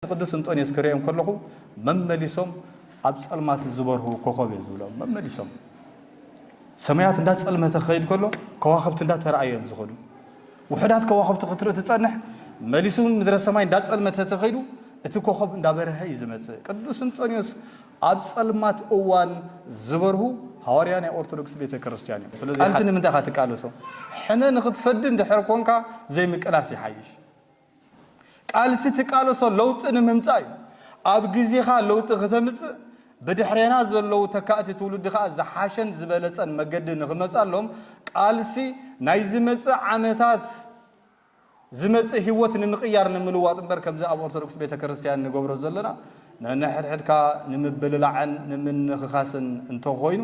ንቅዱስ እንጦንዮስ ክርእዮም ከለኹ መመሊሶም ኣብ ጸልማት ዝበርሁ ኮኾብ እየ ዝብሎም መመሊሶም ሰማያት እንዳ ጸልመተ ክኸይድ ከሎ ከዋኽብቲ እንዳ ተራእዩ እዮም ዝኸዱ ውሑዳት ከዋኽብቲ ክትርኢ ትጸንሕ መሊሱ ምድረ ሰማይ እንዳ ጸልመተ ተኸይዱ እቲ ኮኾብ እንዳ በርሀ እዩ ዝመጽእ ቅዱስ እንጦንዮስ ኣብ ጸልማት እዋን ዝበርሁ ሃዋርያ ናይ ኦርቶዶክስ ቤተ ክርስቲያን እዮም ስለዚ ቃልሲ ንምንታይ ኢኻ ትቃለሶ ሕነ ንኽትፈዲ እንድሕር ኮንካ ዘይምቅላስ ይሓይሽ ቃልሲ ትቃለሶ ለውጢ ንምምጻእ እዩ። ኣብ ግዜኻ ለውጢ ክተምጽእ፣ ብድሕሬና ዘለዉ ተካእቲ ትውልዲ ከኣ ዝሓሸን ዝበለጸን መገዲ ንክመጻሎም ቃልሲ ናይ ዝመጽእ ዓመታት ዝመጽእ ህይወት ንምቕያር ንምልዋጥ እምበር ከምዚ ኣብ ኦርቶዶክስ ቤተክርስትያን ንገብሮ ዘለና ነንሕድሕድካ ንምብልላዕን ንምንኽኻስን እንተኾይኑ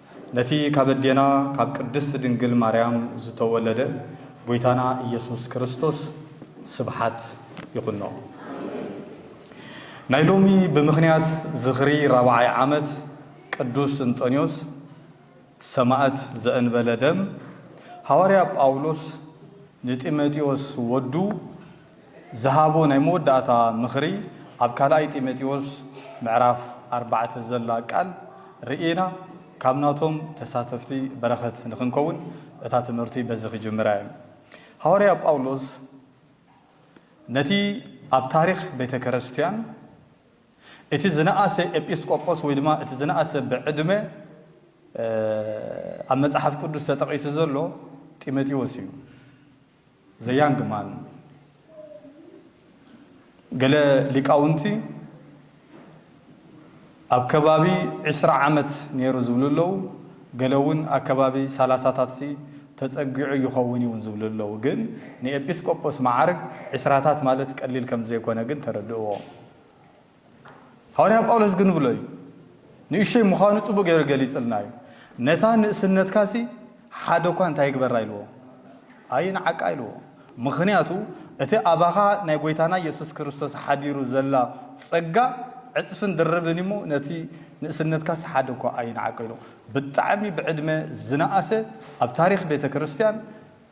ነቲ ካብ ኣዴና ካብ ቅድስት ድንግል ማርያም ዝተወለደ ጎይታና ኢየሱስ ክርስቶስ ስብሓት ይኹኖ። ናይ ሎሚ ብምኽንያት ዝኽሪ ራብዓይ ዓመት ቅዱስ እንጠንዮስ ሰማእት ዘእንበለ ደም ሃዋርያ ጳውሎስ ንጢመጢዎስ ወዱ ዝሃቦ ናይ መወዳእታ ምኽሪ ኣብ ካልኣይ ጢሞቴዎስ ምዕራፍ ኣርባዕተ ዘላ ቃል ርእይና ካብ ናቶም ተሳተፍቲ በረኸት ንኽንከውን እታ ትምህርቲ በዚ ክጅምር ኣየ። ሃዋርያ ጳውሎስ ነቲ ኣብ ታሪኽ ቤተ ከረስትያን እቲ ዝነኣሰ ኤጲስቆጶስ ወይ ድማ እቲ ዝነኣሰ ብዕድመ ኣብ መጽሓፍ ቅዱስ ተጠቒሱ ዘሎ ጢሞቴዎስ እዩ። The Young Man፣ ገለ ሊቃውንቲ ኣብ ከባቢ ዕስራ ዓመት ነይሩ ዝብሉ ኣለዉ፣ ገለ እውን ኣከባቢ ሰላሳታትሲ ተጸጊዑ ይኸውን እዩ እውን ዝብሉ ኣለዉ፣ ግን ንኤጲስቆጶስ መዓርግ ዕስራታት ማለት ቀሊል ከም ዘይኮነ ግን ተረድእዎ። ሃዋርያ ጳውሎስ ክንብሎ እዩ። ንእሽቶይ ምዃኑ ጽቡቕ ገይሩ ገሊጽልና እዩ። ነታ ንእስነትካሲ ሓደ እኳ እንታይ ይግበራ ኢልዎ? ኣይንዓቃ ኢልዎ። ምኽንያቱ እቲ ኣባኻ ናይ ጐይታና የሱስ ክርስቶስ ሓዲሩ ዘላ ጸጋ ዕጽፍን ድርብን እዩ እሞ ነቲ ንእስነትካሲ ሓደ እኳ ኣይንዓቅ ኢልዎ። ብጣዕሚ ብዕድመ ዝነኣሰ ኣብ ታሪኽ ቤተ ክርስቲያን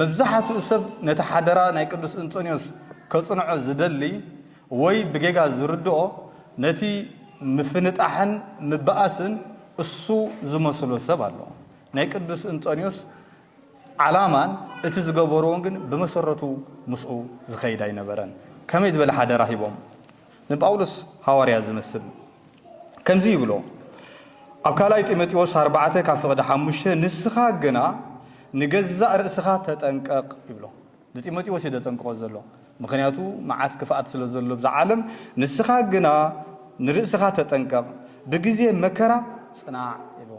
መብዛሓትኡ ሰብ ነቲ ሓደራ ናይ ቅዱስ እንጦንዮስ ከጽንዖ ዝደሊ ወይ ብጌጋ ዝርድኦ ነቲ ምፍንጣሕን ምባኣስን እሱ ዝመስሎ ሰብ ኣሎ። ናይ ቅዱስ እንጦንዮስ ዓላማን እቲ ዝገበርዎን ግን ብመሰረቱ ምስኡ ዝኸይድ ኣይነበረን። ከመይ ዝበለ ሓደራ ሂቦም? ንጳውሎስ ሃዋርያ ዚመስል ከምዚ ይብሎ ኣብ ካልኣይ ጢሞቴዎስ ኣርባዕተ ካብ ፍቕዲ ሓሙሽተ ንስኻ ግና ንገዛእ ርእስኻ ተጠንቀቕ ይብሎ ንጢሞቴዎስ እዩ ዘጠንቅቖ ዘሎ ምኽንያቱ መዓት ክፍኣት ስለ ዘሎ ብዛ ዓለም ንስኻ ግና ንርእስኻ ተጠንቀቕ ብግዜ መከራ ጽናዕ ይብሎ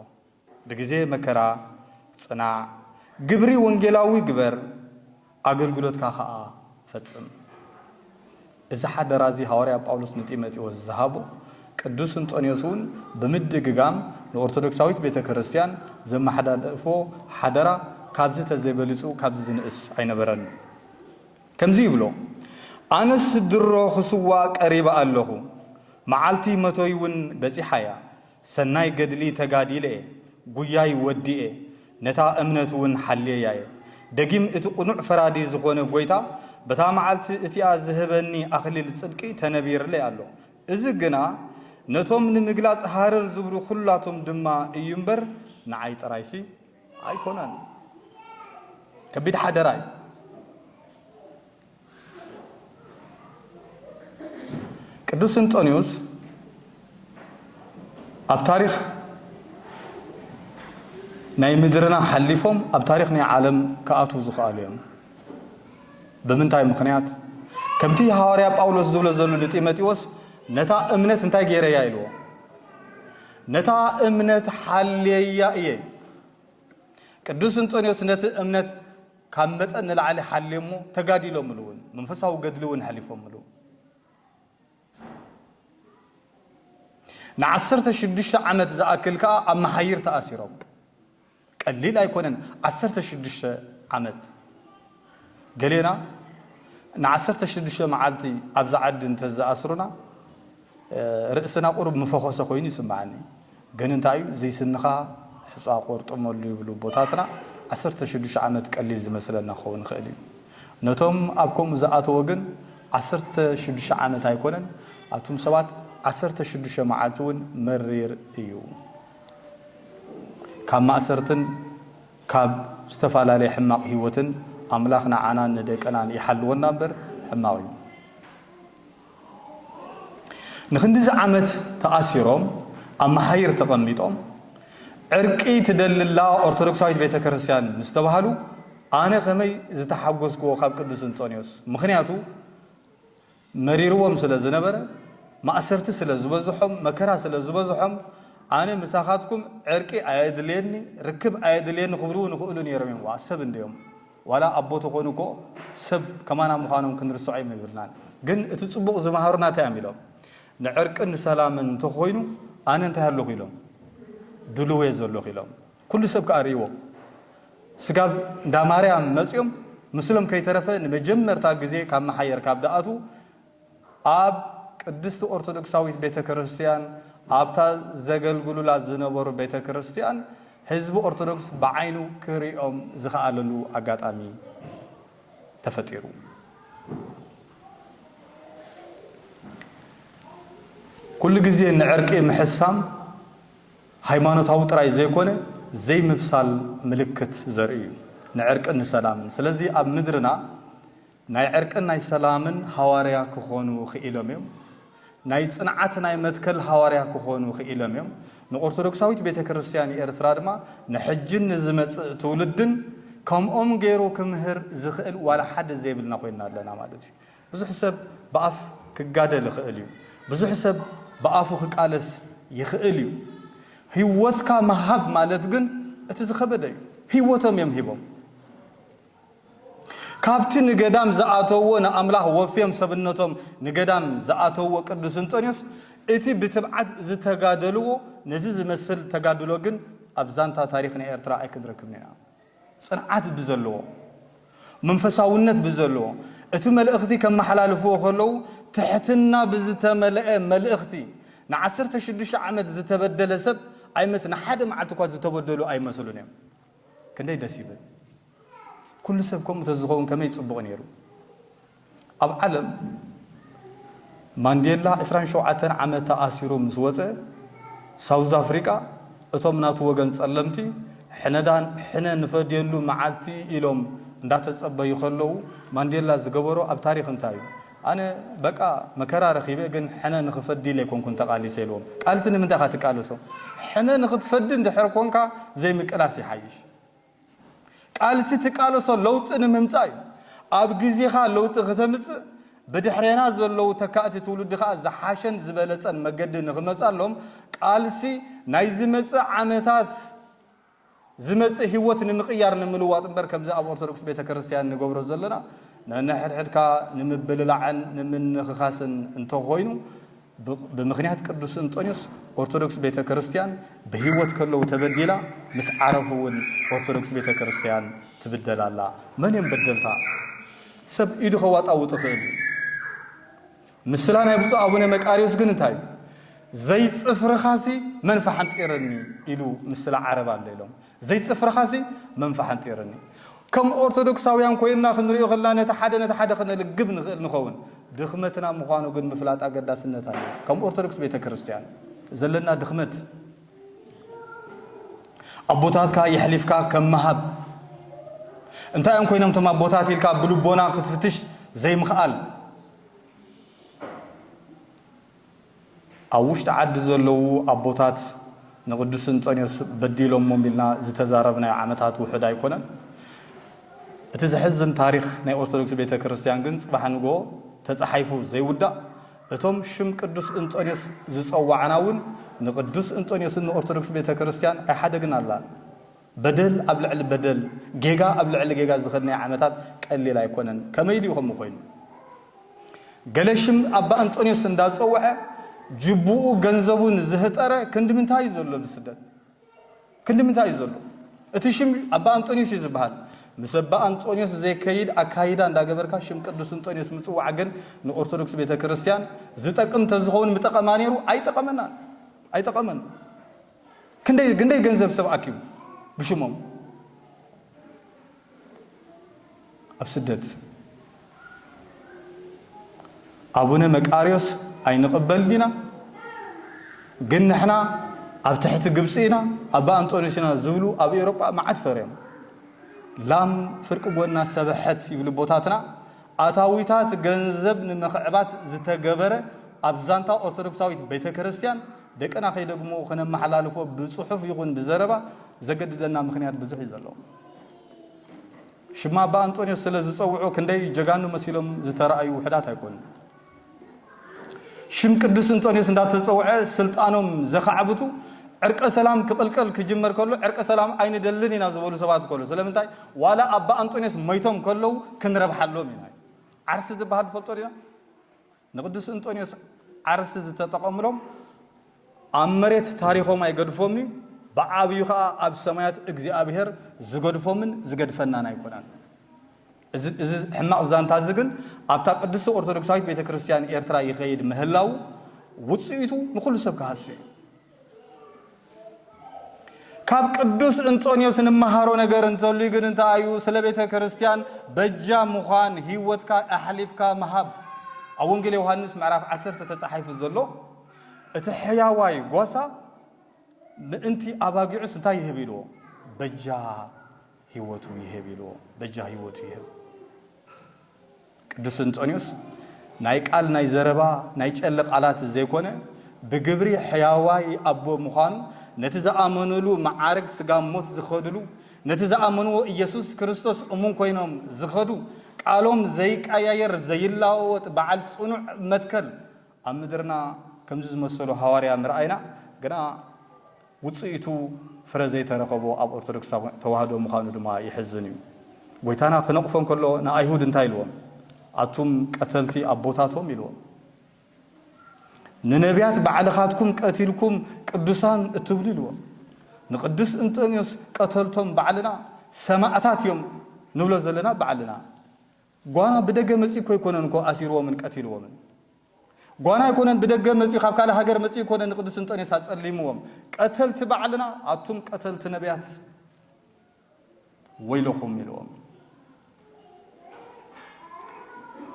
ብግዜ መከራ ጽናዕ፣ ግብሪ ወንጌላዊ ግበር፣ ኣገልግሎትካ ኸኣ ፈጽም። እዚ ሓደራ እዚ ሃዋርያ ጳውሎስ ንጢሞቴዎስ ዝሃቦ፣ ቅዱስ እንጦንዮስ እውን ብምድግጋም ንኦርቶዶክሳዊት ቤተ ክርስቲያን ዘመሓላለፎ ሓደራ ካብዚ ተዘይ በሊጹ ካብዚ ዝንእስ ኣይነበረን። ከምዚ ይብሎ፣ ኣነስ ድሮ ኽስዋእ ቀሪበ ኣለኹ፣ መዓልቲ መቶይ እውን በጺሓ እያ። ሰናይ ገድሊ ተጋዲለ'የ፣ ጉያይ ወዲኤ፣ ነታ እምነት'ውን ሓልየያ'የ። ደጊም እቲ ቅኑዕ ፈራዲ ዝኾነ ጎይታ በታ መዓልቲ እቲኣ ዝህበኒ ኣኽሊል ጽድቂ ተነቢርለይ ኣሎ። እዚ ግና ነቶም ንምግላጽ ሃረር ዝብሉ ኩላቶም ድማ እዩ'ምበር ንዓይ ጥራይሲ ኣይኮነን። ከቢድ ሓደራ'ዩ። ቅዱስ እንጦንዮስ ኣብ ታሪኽ ናይ ምድርና ሓሊፎም ኣብ ታሪኽ ናይ ዓለም ክኣትዉ ዝኽኣሉ እዮም ብምንታይ ምኽንያት ከምቲ ሃዋርያ ጳውሎስ ዝብሎ ዘሉ ንጢሞቴዎስ ነታ እምነት እንታይ ገይረያ ኢልዎ ነታ እምነት ሓልየያ እየ ቅዱስ እንጦንዮስ ነቲ እምነት ካብ መጠን ንላዕሊ ሓልዮሞ ተጋዲሎምሉ እውን መንፈሳዊ ገድሊ እውን ሐሊፎምሉ ንዓሰርተ ሽዱሽተ ዓመት ዝኣክል ከኣ ኣብ መሓይር ተኣሲሮም ቀሊል ኣይኮነን ዓሰርተ ሽዱሽተ ዓመት ገሌና ንዓሰርተ ሽዱሽተ መዓልቲ ኣብዛ ዓዲ እንተዝኣስሩና ርእስና ቁሩብ ምፈኾሰ ኮይኑ ይስምዓኒ ግን እንታይ እዩ ዝይ ስንኻ ሑጻ ቆርጥመሉ ይብሉ ቦታትና ዓሰርተ ሽዱሽተ ዓመት ቀሊል ዝመስለና ክኸውን ይኽእል እዩ ነቶም ኣብ ከምኡ ዝኣተዎ ግን ዓሰርተ ሽዱሽተ ዓመት ኣይኮነን ኣቱም ሰባት ዓሰርተ ሽዱሽተ መዓልቲ እውን መሪር እዩ ካብ ማእሰርትን ካብ ዝተፋላለየ ሕማቕ ሂወትን ኣምላኽ ንዓናን ንደቅናን ይሓልወና እምበር ሕማቕ እዩ። ንክንድዚ ዓመት ተኣሲሮም ኣብ መሓይር ተቐሚጦም ዕርቂ ትደልላ ኦርቶዶክሳዊት ቤተክርስትያን ምስ ተባህሉ ኣነ ከመይ ዝተሓጎስክዎ ካብ ቅዱስ እንጦንዮስ ምኽንያቱ መሪርዎም ስለ ዝነበረ ማእሰርቲ ስለ ዝበዝሖም መከራ ስለ ዝበዝሖም ኣነ ምሳኻትኩም ዕርቂ ኣየድልየኒ ርክብ ኣየድልየኒ ክብልውን ይኽእሉ ነይሮም እዮም ዋእ ሰብ እንድዮም ዋላ ኣቦ ተኮኑ እኮ ሰብ ከማና ምኳኖም ክንርሶዖም የብልናን ግን እቲ ጽቡቅ ዝመሃሩና እንታይ እዮም ኢሎም ንዕርቅን ሰላምን እንተኮይኑ ኣነ እንታይ ኣለኩ ኢሎም ድሉው እየ ዘለኩ ኢሎም ኩሉ ሰብ ከኣ ሪእዎ ስጋብ እንዳ ማርያም መጽዮም ምስሎም ከይተረፈ ንመጀመርታ ግዜ ካብ መሓየር ካብ ደኣትዉ ኣብ ቅድስቲ ኦርቶዶክሳዊት ቤተ ክርስቲያን ኣብታ ዘገልግሉላ ዝነበሩ ቤተ ክርስቲያን ህዝቢ ኦርቶዶክስ ብዓይኑ ክርእዮም ዝኸኣለሉ ኣጋጣሚ ተፈጢሩ። ኩሉ ግዜ ንዕርቂ ምሕሳም ሃይማኖታዊ ጥራይ ዘይኮነ ዘይምብሳል ምልክት ዘርኢ እዩ፣ ንዕርቅን ንሰላምን። ስለዚ ኣብ ምድርና ናይ ዕርቅን ናይ ሰላምን ሃዋርያ ክኾኑ ኽኢሎም እዮም። ናይ ጽንዓት ናይ መትከል ሃዋርያ ክኾኑ ኽኢሎም እዮም። ንኦርቶዶክሳዊት ቤተ ክርስቲያን ኤርትራ ድማ ንሕጅን ንዝመጽእ ትውልድን ከምኦም ገይሩ ክምህር ዝኽእል ዋላ ሓደ ዘይብልና ኮይንና ኣለና ማለት እዩ። ብዙሕ ሰብ ብኣፍ ክጋደል ይኽእል እዩ። ብዙሕ ሰብ ብኣፉ ክቃለስ ይኽእል እዩ። ህይወትካ ምሃብ ማለት ግን እቲ ዝኸበደ እዩ። ህይወቶም እዮም ሂቦም። ካብቲ ንገዳም ዝኣተውዎ ንኣምላኽ ወፍዮም ሰብነቶም ንገዳም ዝኣተውዎ ቅዱስ እንጦንዮስ እቲ ብትብዓት ዝተጋደልዎ ነዚ ዝመስል ተጋድሎ ግን ኣብ ዛንታ ታሪኽ ናይ ኤርትራ ኣይክንረክብን ኢና። ጽንዓት ብዘለዎ መንፈሳውነት ብዘለዎ እቲ መልእኽቲ ከመሓላልፍዎ ከለዉ ትሕትና ብዝተመልኤ መልእኽቲ ንዓሰርተ ሽዱሽተ ዓመት ዝተበደለ ሰብ ኣይመስ ንሓደ መዓልቲ እኳ ዝተበደሉ ኣይመስሉን እዮም። ክንደይ ደስ ይብል ኩሉ ሰብ ከምኡ ተዝኸውን ከመይ ጽቡቕ ነይሩ ኣብ ዓለም ማንዴላ ዕስራን ሸውዓተን ዓመት ተኣሲሩ ምስ ወጸ ሳውዝ ኣፍሪቃ እቶም ናቱ ወገን ጸለምቲ ሕነዳን ሕነ ንፈድየሉ መዓልቲ ኢሎም እንዳተጸበዩ ከለዉ ማንዴላ ዝገበሮ ኣብ ታሪኽ እንታይ እዩ ኣነ በቃ መከራ ረኺበ ግን ሕነ ንኽፈዲ ኢለ ኣይኮንኩን ተቓሊሰ ኢልዎም። ቃልሲ ንምንታይ ኢኻ ትቃለሶ? ሕነ ንኽትፈዲ እንድሕር ኮንካ ዘይምቅላስ ይሓይሽ። ቃልሲ ትቃለሶ ለውጢ ንምምጻእ እዩ። ኣብ ግዜኻ ለውጢ ክተምጽእ ብድሕሬና ዘለዉ ተካእቲ ትውልዲ ከኣ ዝሓሸን ዝበለጸን መገዲ ንኽመጻሎም ቃልሲ ናይ ዝመጽእ ዓመታት ዝመጽእ ሂወት ንምቕያር ንምልዋጥ እምበር ከምዚ ኣብ ኦርቶዶክስ ቤተክርስትያን ንገብሮ ዘለና ነንሕድሕድካ ንምብልላዕን ንምንኽኻስን እንተኾይኑ ብምኽንያት ቅዱስ እንጦንዮስ ኦርቶዶክስ ቤተክርስትያን ብሂወት ከለዉ ተበዲላ ምስ ዓረፉ እውን ኦርቶዶክስ ቤተክርስትያን ትብደል ኣላ። መን እዮም በደልታ? ሰብ ኢዱ ከዋጣውጥ ይኽእል እዩ። ምስላ ናይ ብፁዕ ኣቡነ መቃርዮስ ግን እንታይ እዩ? ዘይጽፍርኻሲ መን ፈሓንጢረኒ ኢሉ ምስላ ዓረብ ኣሎ ኢሎም። ዘይጽፍርኻሲ መን ፈሓንጢረኒ። ከም ኦርቶዶክሳውያን ኮይንና ክንርእዮ ከለና ነቲ ሓደ ነቲ ሓደ ክነልግብ ንኽእል ንኸውን። ድኽመትና ምዃኑ ግን ምፍላጥ ኣገዳስነት ኣለዎ። ከም ኦርቶዶክስ ቤተ ክርስቲያን ዘለና ድኽመት ኣቦታትካ የሕሊፍካ ከም ምሃብ እንታይ እዮም ኮይኖም እቶም ኣቦታት ኢልካ ብልቦና ክትፍትሽ ዘይምኽኣል ኣብ ውሽጢ ዓዲ ዘለዉ ኣቦታት ንቅዱስ እንጦንዮስ በዲሎሞም ኢልና ዝተዛረብናዮ ዓመታት ውሑድ ኣይኮነን። እቲ ዘሕዝን ታሪኽ ናይ ኦርቶዶክስ ቤተ ክርስቲያን ግን ጽባሕ ንግሆ ተጻሒፉ ዘይውዳእ እቶም ሽም ቅዱስ እንጦንዮስ ዝጸዋዕና እውን ንቅዱስ እንጦንዮስን ንኦርቶዶክስ ቤተ ክርስቲያን ኣይሓደግናላን። በደል ኣብ ልዕሊ በደል፣ ጌጋ ኣብ ልዕሊ ጌጋ ዝኸድናዮ ዓመታት ቀሊል ኣይኮነን። ከመይ ኢሉ'ዩ ከምኡ ኮይኑ? ገለ ሽም ኣባ እንጦንዮስ እንዳጸውዐ ጅቡኡ ገንዘቡ ንዝህጠረ ክንድምንታይ'ዩ ዘሎ ኣብ ስደት? ክንድምንታይ'ዩ ዘሎ? እቲ ሽም ኣባ እንጦንዮስ'ዩ ዝበሃል። ምስ ኣባ እንጦንዮስ ዘይከይድ ኣካይዳ እንዳገበርካ ሽም ቅዱስ እንጦንዮስ ምጽዋዕ ግን ንኦርቶዶክስ ቤተክርስትያን ዝጠቅም ተዝኸውን ምጠቐማ ኔሩ። ኣይጠቐመናን። ኣይጠቐመን። ክንደይ ግንደይ ገንዘብ ሰብ ኣኪቡ ብሽሞም ኣብ ስደት ኣቡነ መቃርዮስ ኣይንቕበልን ኢና ግን ንሕና ኣብ ትሕቲ ግብፂ ኢና ኣባ ኣንጦንዮስ ኢና ዝብሉ ኣብ ኤውሮጳ መዓት ፈርዮም ላም ፍርቂ ጎና ሰበሐት ይብሉ ቦታትና ኣታዊታት ገንዘብ ንምኽዕባት ዝተገበረ ኣብ ዛንታ ኦርቶዶክሳዊት ቤተ ክርስቲያን ደቅና ከይደግምዎ ክነመሓላልፎ ብጽሑፍ ይኹን ብዘረባ ዘገድደና ምኽንያት ብዙሕ እዩ ዘሎ። ሽም ኣባ ኣንጦንዮስ ስለ ዝጸውዑ ክንደይ ጀጋኑ መሲሎም ዝተራእዩ ውሑዳት ኣይኮኑን። ሽም ቅዱስ እንጦንዮስ እንዳተጸውዐ ስልጣኖም ዘኻዕብቱ ዕርቀ ሰላም ክቕልቀል ክጅመር ከሎ ዕርቀ ሰላም ኣይንደልን ኢና ዝበሉ ሰባት ከሎ ስለምንታይ ዋላ ኣባ ኣንጦንዮስ መይቶም ከለዉ ክንረብሓሎም ኢና ዓርሲ ዝበሃል ንፈልጦ ዲና ንቅዱስ እንጦንዮስ ዓርስ ዝተጠቐምሎም ኣብ መሬት ታሪኾም ኣይገድፎምን'ዩ፣ ብዓብዩ ከኣ ኣብ ሰማያት እግዚኣብሔር ዝገድፎምን ዝገድፈናን ኣይኮነን። እዚ እዚ ሕማቕ ዛንታ'ዚ ግን ኣብታ ቅድስቲ ኦርቶዶክሳዊት ቤተ ክርስቲያን ኤርትራ ይኸይድ ምህላዉ ውጽኢቱ ንኹሉ ሰብ ክሃስ'ዩ። ካብ ቅዱስ እንጦንዮስ እንመሃሮ ነገር እንተልዩ ግን እንታይ እዩ? ስለ ቤተ ክርስቲያን በጃ ምዃን ህይወትካ ኣሕሊፍካ ምሃብ ኣብ ወንጌል ዮሃንስ ምዕራፍ ዓሰርተ ተጻሒፉ ዘሎ እቲ ሕያዋይ ጓሳ ምእንቲ ኣባጊዑስ እንታይ ይህብ ኢልዎ በጃ ሂወቱ ይሀብ ኢልዎ በጃ ሂወቱ ይሀብ። ቅዱስ እንጦንዮስ ናይ ቃል ናይ ዘረባ ናይ ጨለ ቃላት ዘይኮነ ብግብሪ ሕያዋይ ኣቦ ምዃኑ ነቲ ዝኣመኑሉ መዓርግ ስጋብ ሞት ዝኸድሉ ነቲ ዝኣመንዎ ኢየሱስ ክርስቶስ እሙን ኮይኖም ዝኸዱ ቃሎም ዘይቀያየር ዘይላወወጥ በዓል ጽኑዕ መትከል ኣብ ምድርና ከምዚ ዝመሰሉ ሃዋርያ ምርኣይና ግና ውጽኢቱ ፍረ ዘይተረኸቦ ኣብ ኦርቶዶክስ ተዋህዶ ምዃኑ ድማ የሕዝን እዩ። ጎይታና ክነቕፎ እንከሎ ንኣይሁድ እንታይ ኢልዎም? ኣቱም ቀተልቲ ኣቦታቶም ኢልዎም። ንነብያት ባዕልኻትኩም ቀቲልኩም ቅዱሳን እትብሉ ኢልዎም። ንቅዱስ እንጠንዮስ ቀተልቶም ባዕልና ሰማእታት እዮም ንብሎ ዘለና ባዕልና። ጓና ብደገ መጺኡ እኮ ኣይኮነን እኮ ኣሲርዎምን ቀቲልዎምን። ጓና ኣይኮነን ብደገ መጺኡ ካብ ካልእ ሃገር መጺኡ ኣይኮነን ንቅዱስ እንጦንዮስ ኣጸሊምዎም። ቀተልቲ ባዕልና ኣቱም ቀተልቲ ነብያት ወይለኹም ኢልዎም።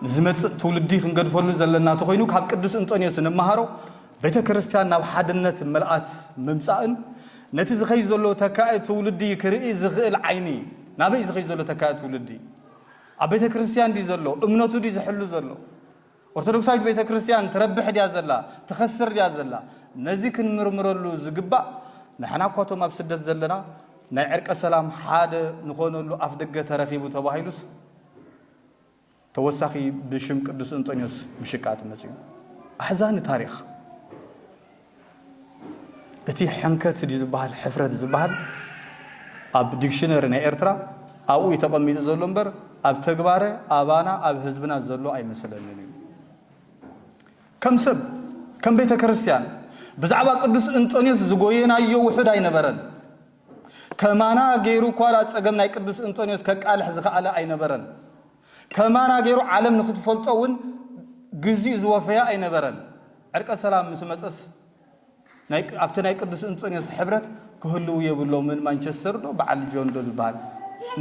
ንዝመጽእ ትውልዲ ክንገድፈሉ ዘለና እንተኾይኑ ካብ ቅዱስ እንጦንዮስ እንመሃሮ ቤተ ክርስቲያን ናብ ሓድነት ምልኣት ምምጻእን ነቲ ዝኸይድ ዘሎ ተካኢ ትውልዲ ክርኢ ዝኽእል ዓይኒ ናበይ ዝኸይድ ዘሎ ተካኢ ትውልዲ ኣብ ቤተ ክርስትያን ድዩ ዘሎ እምነቱ ድዩ ዝሕሉ ዘሎ ኦርቶዶክሳዊት ቤተ ክርስትያን ትረብሕ ድያ ዘላ ትኸስር ድያ ዘላ ነዚ ክንምርምረሉ ዝግባእ ንሕና እኳ እቶም ኣብ ስደት ዘለና ናይ ዕርቀ ሰላም ሓደ ንኾነሉ ኣፍ ደገ ተረኺቡ ተባሂሉስ ተወሳኺ ብሽም ቅዱስ እንጦንዮስ ምሽቃጥ መፅኡ ኣሕዛኒ ታሪኽ እቲ ሕንከት ድዩ ዝበሃል ሕፍረት ዝበሃል ኣብ ዲክሽነሪ ናይ ኤርትራ ኣብኡ እዩ ተቐሚጡ ዘሎ እምበር ኣብ ተግባረ ኣባና ኣብ ህዝብና ዘሎ ኣይመስለንን እዩ። ከም ሰብ ከም ቤተ ክርስቲያን ብዛዕባ ቅዱስ እንጦንዮስ ዝጎየናዮ ውሑድ ኣይነበረን። ከማና ገይሩ እኳ ጸገም ናይ ቅዱስ እንጦንዮስ ከቃልሕ ዝኸኣለ ኣይነበረን። ከማና ገይሩ ዓለም ንክትፈልጦ እውን ግዚኡ ዝወፈያ ኣይነበረን። ዕርቀ ሰላም ምስ መጸስ ኣብቲ ናይ ቅዱስ እንጦንዮስ ሕብረት ክህልው የብሎምን ማንቸስተር ዶ በዓል ጆን ዶ ዝበሃል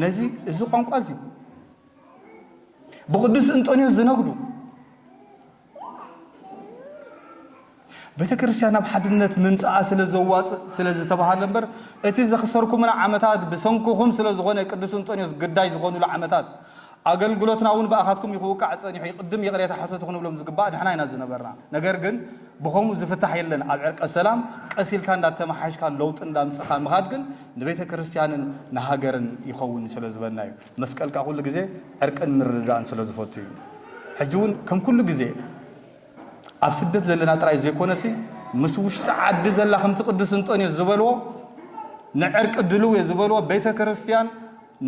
ነዚ እዚ ቋንቋ እዚ ብቅዱስ እንጦንዮስ ዝነግዱ ቤተክርስትያን ናብ ሓድነት ምምጽኣ ስለ ዘዋጽእ ስለ ዝተባህለ እምበር እቲ ዘኽሰርኩምና ዓመታት ብሰንኩኹም ስለ ዝኾነ ቅዱስ እንጦንዮስ ግዳይ ዝኾኑሉ ዓመታት ኣገልግሎትና ውን ብኣኻትኩም እዩ ክውቃዕ ጸኒሑ ይቕድም ይቕሬታ ሕተቱ ክንብሎም ዝግባእ ንሕና ኢና ዝነበርና ነገር ግን ብኸምኡ ዝፍታሕ የለን ኣብ ዕርቀ ሰላም ቀስ ኢልካ እንዳተመሓየሽካ ለውጢ እንዳምጽኻ ምኻድ ግን ንቤተክርስትያንን ንሃገርን ይኸውን ስለ ዝበልና እዩ መስቀልካ ኩሉ ግዜ ዕርቅን ምርድዳእን ስለ ዝፈቱ እዩ። ሕጂ ውን ከም ኩሉ ግዜ ኣብ ስደት ዘለና ጥራይ ዘይኮነሲ ምስ ውሽጢ ዓዲ ዘላ ከምቲ ቅዱስ እንጦንዮስ ዝበልዎ ንዕርቂ ድልው እየ ዝበልዎ ቤተ ክርስትያን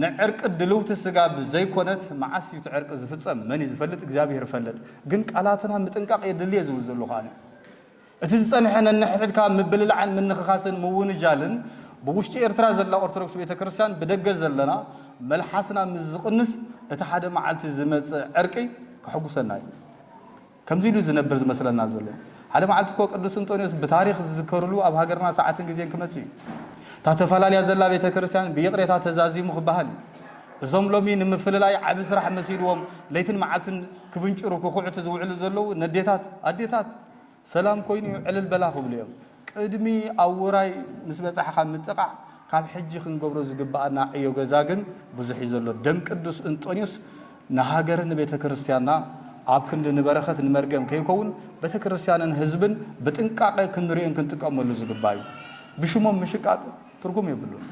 ንዕርቂ ድልውቲ ስጋ ብዘይኮነት መዓስ እዩ እቲ ዕርቂ ዝፍጸም መን እዩ ዝፈልጥ እግዚኣብሔር ፈለጥ ግን ቃላትና ምጥንቃቅ የድሊ እየ ዝብል ዘለኹ ኣነ እቲ ዝጸንሐ ነንሕድሕድካ ምብልላዕን ምንኽኻስን ምውንጃልን ብ ውሽጢ ኤርትራ ዘላ ኦርቶዶክስ ቤተ ክርስቲያን ብደገ ዘለና መልሓስና ምስ ዝቕንስ እቲ ሓደ መዓልቲ ዝመጽእ ዕርቂ ከሕጉሰና እዩ ከምዚ ኢሉ ዝነብር ዝመስለና ዘሎ ሓደ መዓልቲ እኮ ቅዱስ እንጦንዮስ ብታሪኽ ዝዝከርሉ ኣብ ሃገርና ሰዓትን ግዜን ክመጽእ እዩ እታ ተፈላለያ ዘላ ቤተ ክርስቲያን ብይቕሬታ ተዛዚሙ ክበሃል እዩ እዞም ሎሚ ንምፍልላይ ዓቢ ስራሕ መሲልዎም ለይትን መዓልትን ክብንጭሩ ክኹዕቱ ዝውዕሉ ዘለዉ ነዴታት ኣዴታት ሰላም ኮይኑ ዕልል በላ ክብሉ እዮም። ቅድሚ ኣብ ውራይ ምስ በጻሒ ካብ ምጥቓዕ ካብ ሕጂ ክንገብሮ ዝግብኣና ዕዮ ገዛ ግን ብዙሕ እዩ ዘሎ። ደም ቅዱስ እንጦንዮስ ንሃገርን ንቤተ ክርስቲያንና ኣብ ክንዲ ንበረኸት ንመርገም ከይከውን ቤተክርስቲያንን ህዝብን ብጥንቃቐ ክንርእዮን ክንጥቀመሉ ዝግባእ እዩ። ብሽሞም ምሽቃጥ ትርጉም የብሉን።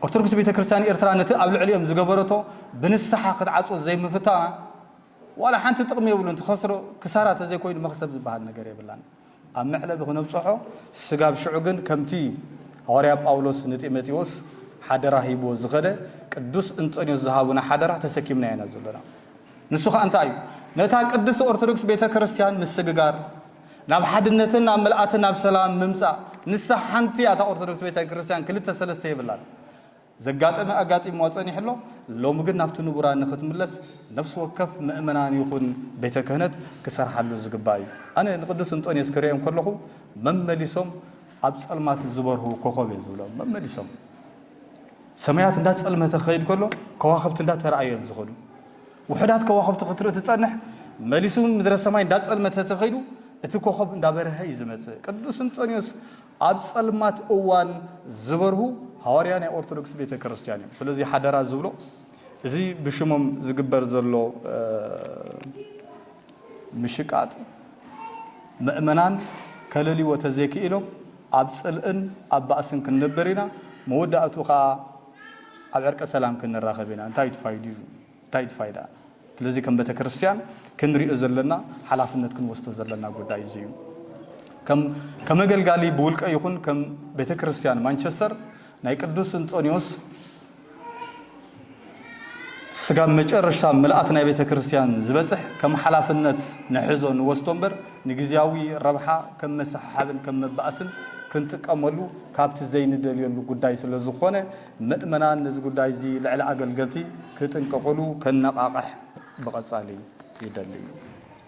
ኦርቶዶክስ ቤተክርስቲያን ኤርትራ ነቲ ኣብ ልዕሊኦም ዝገበረቶ ብንስሓ ክትዓጽዎ ዘይምፍታና፣ ዋላ ሓንቲ ጥቕሚ የብሉን ትኸስሮ ክሳራ ተዘይኮይኑ መኽሰብ ዝበሃል ነገር የብላን ኣብ መዕለቢ ክነብፀሖ ስጋብ ሽዑ ግን ከምቲ ሃዋርያ ጳውሎስ ንጢመጢዎስ ሓደራ ሂብዎ ዝኸደ ቅዱስ እንጠንዮስ ዝሃቡና ሓደራ ተሰኪምናዮ ኢና ዘሎና ንሱ ኸኣ እንታይ እዩ ነታ ቅድስት ኦርቶዶክስ ቤተክርስትያን ምስግጋር ናብ ሓድነትን ናብ ምልኣትን ናብ ሰላም ምምጻእ ንሳ ሓንቲ እያ እታ ኦርቶዶክስ ቤተክርስትያን ክልተ ሰለስተ የብላን ዘጋጠመ ኣጋጢምዋ ጸኒሑ ኣሎ፣ ሎሚ ግን ናብቲ ንቡራ ንኽትምለስ ነፍሲ ወከፍ ምእመናን ይኹን ቤተ ክህነት ክሰርሓሉ ዝግባእ እዩ። ኣነ ንቅዱስ እንጦንዮስ ክርእዮም ከለኹ መመሊሶም ኣብ ጸልማት ዝበርሁ ኮኾብ እየ ዝብሎም። መመሊሶም ሰማያት እንዳ ጸልመተ ክኸይድ ከሎ ከዋኽብቲ እንዳ ተራእዩ እዮም ዝኸዱ። ውሑዳት ከዋኽብቲ ክትርኢ ትጸንሕ መሊሱ ምድረ ሰማይ እንዳ ጸልመተ ተኸይዱ እቲ ኮኾብ እንዳ በርሀ እዩ ዝመጽእ። ቅዱስ እንጦንዮስ ኣብ ጸልማት እዋን ዝበርሁ ሃዋርያ ናይ ኦርቶዶክስ ቤተ ክርስቲያን እዮም። ስለዚ ሓደራ ዝብሎ እዚ ብሽሞም ዝግበር ዘሎ ምሽቃጥ ምእመናን ከለልይዎ ተዘይክኢሎም ኣብ ጽልእን ኣብ ባእስን ክንነብር ኢና፣ መወዳእትኡ ከኣ ኣብ ዕርቀ ሰላም ክንራኸብ ኢና። እንታይ እዩ እቲ ፋይድኡ? እንታይ እቲ ፋይዳ? ስለዚ ከም ቤተክርስትያን ክንሪኦ ዘለና ሓላፍነት ክንወስዶ ዘለና ጉዳይ እዚ እዩ። ከም ከመገልጋሊ ብውልቀ ይኹን ከም ቤተክርስትያን ማንቸስተር ናይ ቅዱስ እንጦንዮስ ስጋብ መጨረሽታ ምልኣት ናይ ቤተክርስትያን ዝበጽሕ ከም ሓላፍነት ንሕዞ ንወስዶ እምበር ንግዝያዊ ረብሓ ከም መሰሓሓብን ከም መባኣስን ክንጥቀመሉ ካብቲ ዘይንደልየሉ ጉዳይ ስለዝኾነ ምእመናን ነዚ ጉዳይ እዚ ልዕሊ ኣገልገልቲ ክጥንቀቁሉ ከነቃቅሕ ብቀጻሊ ይደሊ እዩ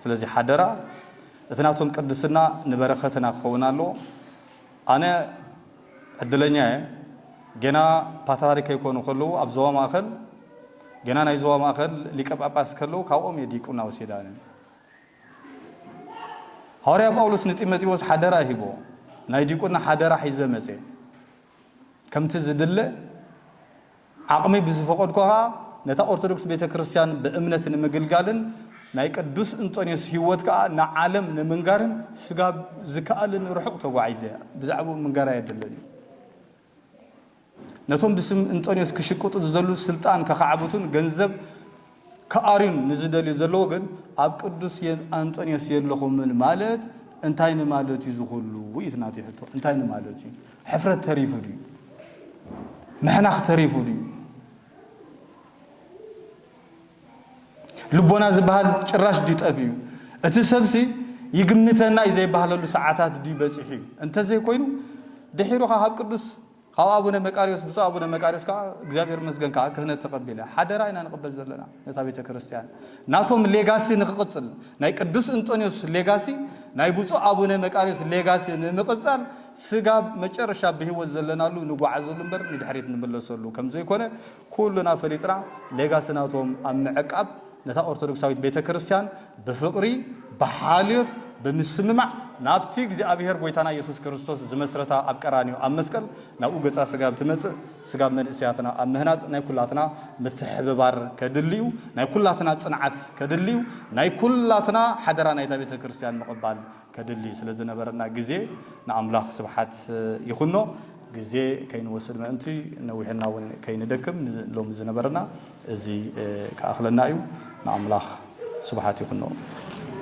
ስለዚ ሓደራ እቲ ናቶም ቅድስና ንበረከትና ክከውን ኣለዎ ኣነ ዕድለኛ እየ ጌና ፓትራሪ ከይኮኑ ከለዉ ኣብ ዞባ ማእከል ጌና ናይ ዞባ ማእከል ሊቀ ጳጳስ ከለዉ ካብኦም እየ ዲቁና ወሲዳ ነን ሃዋርያ ጳውሎስ ንጢሞቴዎስ ሓደራ ሂቦ ናይ ዲቁና ሓደራ ሒዘ መጼ ከምቲ ዝድለ ዓቕመይ ብዝፈቐድኩ ከኣ ነታ ኦርቶዶክስ ቤተ ክርስቲያን ብእምነት ንምግልጋልን ናይ ቅዱስ እንጦንዮስ ሕይወት ከኣ ንዓለም ንምንጋርን ስጋብ ዝከኣለኒ ርሑቕ ተጓዒዘ ብዛዕባኡ ምንጋር ኣየድልን እዩ። ነቶም ብስም እንጦንዮስ ክሽቅጡ ዝደሉ ስልጣን ከኻዕብቱን ገንዘብ ክኣርዩን ንዝደልዩ ዘለዎ ግን ኣብ ቅዱስ ኣንጠንዮስ የለኹምን ማለት እንታይ ንማለት እዩ ዝኹሉ እዩ እቲ ናተይ ሕቶ እንታይ ንማለት እዩ ሕፍረት ተሪፉ ድዩ ምሕናኽ ተሪፉ ድዩ ልቦና ዝበሃል ጭራሽ ድዩ ጠፍዩ እቲ ሰብሲ ይግምተና እዩ ዘይባህለሉ ሰዓታት ድዩ በፂሑ እዩ እንተዘይኮይኑ ድሒሩኻ ካብ ቅዱስ ካብ ኣቡነ መቃርዮስ ብፁዕ ኣቡነ መቃርዮስ ከኣ እግዚኣብሔር ይመስገን ከኣ ክህነት ተቀቢለ ሓደራ ኢና ንቅበል ዘለና ነታ ቤተ ክርስቲያን ናቶም ሌጋሲ ንክቅጽል ናይ ቅዱስ እንጦንዮስ ሌጋሲ ናይ ብፁዕ ኣቡነ መቃርዮስ ሌጋሲ ንምቅጻል ስጋብ መጨረሻ ብህይወት ዘለናሉ ንጓዓዘሉ እምበር ንድሕሪት ንምለሰሉ ከምዘይኮነ ኩሉና ፈሊጥና ሌጋሲ ናቶም ኣብ ምዕቃብ ነታ ኦርቶዶክሳዊት ቤተ ክርስቲያን ብፍቕሪ ብሓልዮት ብምስምማዕ ናብቲ እግዚኣብሔር ጎይታና ኢየሱስ ክርስቶስ ዝመስረታ ኣብ ቀራንዮ ኣብ መስቀል ናብኡ ገጻ ስጋብ ትመጽእ ስጋብ መንእሰያትና ኣብ ምህናጽ ናይ ኩላትና ምትሕብባር ከድሊ'ዩ ናይ ኩላትና ጽንዓት ከድሊ'ዩ ናይ ኩላትና ሓደራ ናይታ ቤተ ክርስቲያን ምቕባል ከድሊ ስለ ዝነበረና ግዜ ንኣምላኽ ስብሓት ይኹኖ። ግዜ ከይንወስድ ምእንቲ ነዊሕና እውን ከይንደክም ንሎሚ ዝነበረና እዚ ክኣኽለና እዩ። ንኣምላኽ ስብሓት ይኹኖ።